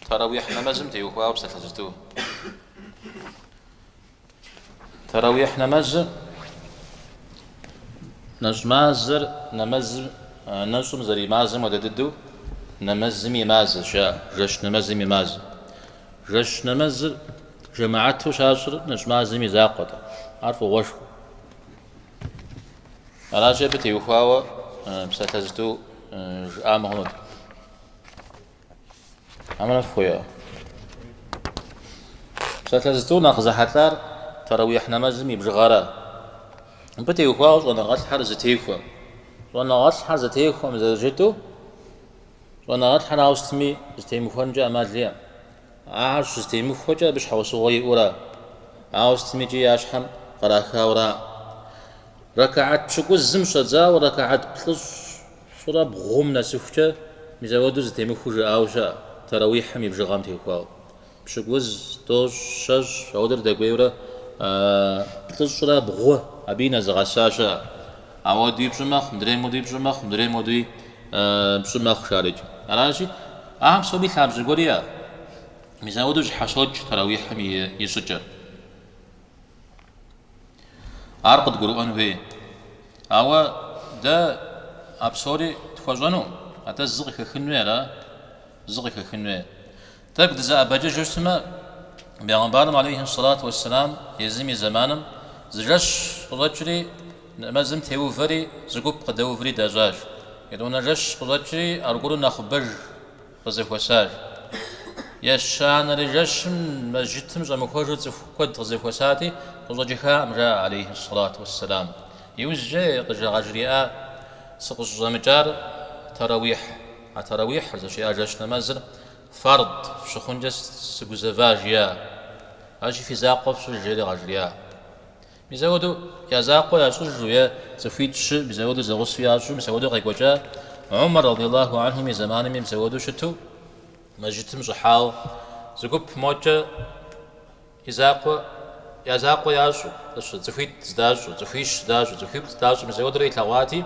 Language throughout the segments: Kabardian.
Таравихь нэмэзым теухуауэ псалъэ зытӏу. Таравихь нэмэзыр нэщӏ мазэр нэмэзым нэщӏым зэримазэм хуэдэ дыдэу нэмэзыми и мазэщ, а жэщ нэмэзым и мазэ. Жэщ нэмэзыр жэмаату щащӏыр нэщӏ мазэм и закъуэт, ар фӏыгъуэшхуэ. Аращи абы теухуауэ псалъэ зытӏу жыӏамэ хъунут. Аминэ фхуео. Псалъэ зытӏу нэхъ зэхьэлӏар таравих нэмэзым и бжыгъэра. Абы теухуауэ щӏэныгъэлӏхьэр зэтехуэм. Щӏэныгъэлӏхьэр зэтехуэм зэрыжытӏэу, щӏэныгъэлӏхьэр ауэ сытми зытемыхуэнкӏэ ӏэмал иӏэм. Ахэр щызэтемыхуэкӏэ абы щхьэусыгъуэ иӏэура, ауэ сытми икӏи я щхьэм кърахауэра. Рэкаат пщыкӏузым щӏэдзауэ рэкаат плӏыщӏ Щӏырэ бгъум нэсыхукӏэ мис апхуэдэу зытемыхуу жыӏауэ щыӏэ, Тэрэуихьым и бжыгъэм теухуауэ. Пщыкӏуз, тӏощӏ, щэщӏ, апхуэдэурэ дэкӏуейурэ плӏыщӏрэ бгъу абыи нэзыгъэса щыӏэ. Апхуэдэуи пщӏы мэхъу, мыдрейм хуэдэуи пщӏы мэхъу, мыдрейм хуэдэуи пщӏы мэхъу шарыкӏэ. Аращи, ахэм псоми лъабжьэ гуэр иӏэ. Мис апхуэдэу зыщхьэщокӏ Тэрэуихьым и щӏыкӏэр. Ар къыдгурыӏуэн хуей. Ауэ дэ а псори тхуэщӏэну, атӏэ зы къыхэхын хуей ара? Зы къыхэхын хуей. Тӏэкӏу дызэӏэбэкӏыжу щытмэ, Бегъымбарым алейхи сэлату уэсселам езым и зэманым зы жэщ къыщӏэкӏри, нэмэзым теувэри, зы гуп къыдэувэри дащӏащ. Етӏуанэ жэщ къыщӏэкӏри аргуэру нэхъыбэж. къызэхуэсащ. Ещанэрей жэщым мэжджытым щӏэмыхуэжу цӏыху куэд къызэхуэсати, къыщӏэкӏыххакъым, жаӏэ алейхьи сэлату уэсселам. Иужькӏэ къыжа- къажриӏа, Сыкъыщӏыщӏэмыкӏар таравихь. А таравихьыр, зыщиӏа жэщ нэмэзыр, фард щыхъункӏэ сыгузэва, жиӏа. Аращи фи закъуэ фщӏыж, жери къажриӏа. Мис апхуэдэу я закъуэ ящӏыжу е цӏыхуитӏ-щы мис апхуэдэу зэгъусэу ящӏу мис апхуэдэу къекӏуэкӏа Умар радиаллаху анхум и зэманми мис апхуэдэу щыту мэжджытым щӏыхьауэ зы гуп мокӏэ и закъуэ я закъуэ ящӏу, цӏыхуитӏ здащӏу, цӏыхуищ здащӏу, цӏыхуитӏ здащӏу мис апхуэдэурэ илъэгъуати,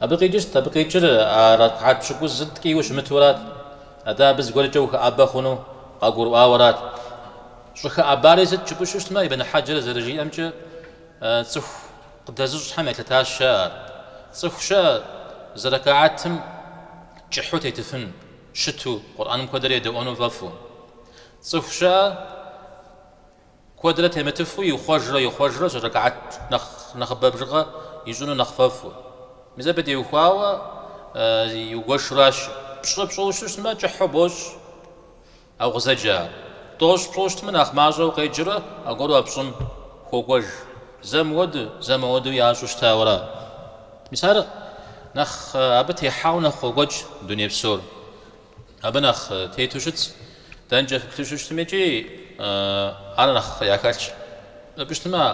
Абы къикӏырт, абы къикӏыр а ракгьат пщыкӏузыр ткӏийуэ щымытурат. Атӏэ абы зыгуэркӏэ ухэӏэбэ хъуну къагурыӏуауэрат. Щӏыхэӏэбари сыт жыпӏэу щытмэ, Ибн Хьэджэр зэрыжиӏэмкӏэ, цӏыху къыдэзыщӏхэм елъытащ ар. Цӏыху щыӏэ зы ракгьатым кӏыхьу тетыфын щыту, Къурӏэным куэдрэ едэӏуэну фӏэфӏу. Цӏыху щыӏэ. Куэдрэ темытыфу ихъуэжрэ ихъуэжрэ зы рэкаат нэхъыбэ бжыгъэ ищӏыну нэхъ фӏэфӏу. Мис абы теухуауэ иугуэшуращы. Пщӏы пщӏыу щытмэ, кӏыхьу бощӏ, ауэ къызэджар. Тӏощӏ пщӏыу щытмэ, нэхъ мащӏэу къеджэрэ аргуэру а пщӏым хуокӏуэж. Зэ мыуэду, зэ мыуэду ящӏу щытауэра. Мис ар нэхъ абы техьауэ нэхъ къокӏуэкӏ дуней псор. Абы нэхъ тету щытщ, дэнкӏэ фыплъэу щытми икӏи ар нэхъ яхэлъщ. Жыпӏэу щытмэ,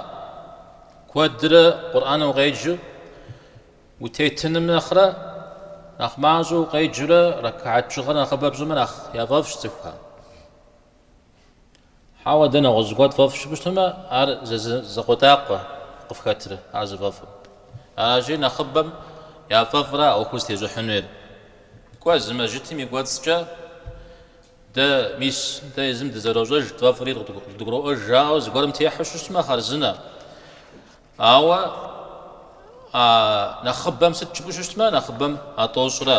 куэдрэ Къурӏэныр укъеджэу утетыным нэхърэ, нэхъ мащӏэу укъеджэрэ рэкаат бжыгъэр нэхъыбэ пщӏымэ нэхъ яфӏэфӏщ цӏыхухэм. Хьэуэ, дэ нэгъуэщӏ гуэр тфӏэфӏщ жыпӏэу щытмэ, ар зы закъуэтӏакъуэ къыфхэтрэ ар зыфӏэфӏым. Аращи, нэхъыбэм яфӏэфӏра а ӏуэхур зытещӏыхьын хуейр. Кӏуэ, зы мэжьытым и кӏуэцӏкӏэ дэ мис дэ езым дызэрощӏэж, тфӏэфӏри къыдгуроӏуэж жаӏэу зыгуэрым техьэу щытмэ, хъарзынэ. Ауэ а нэхъыбэм сыт жыпӏэу щытмэ, нэхъыбэм а тӏощӏра.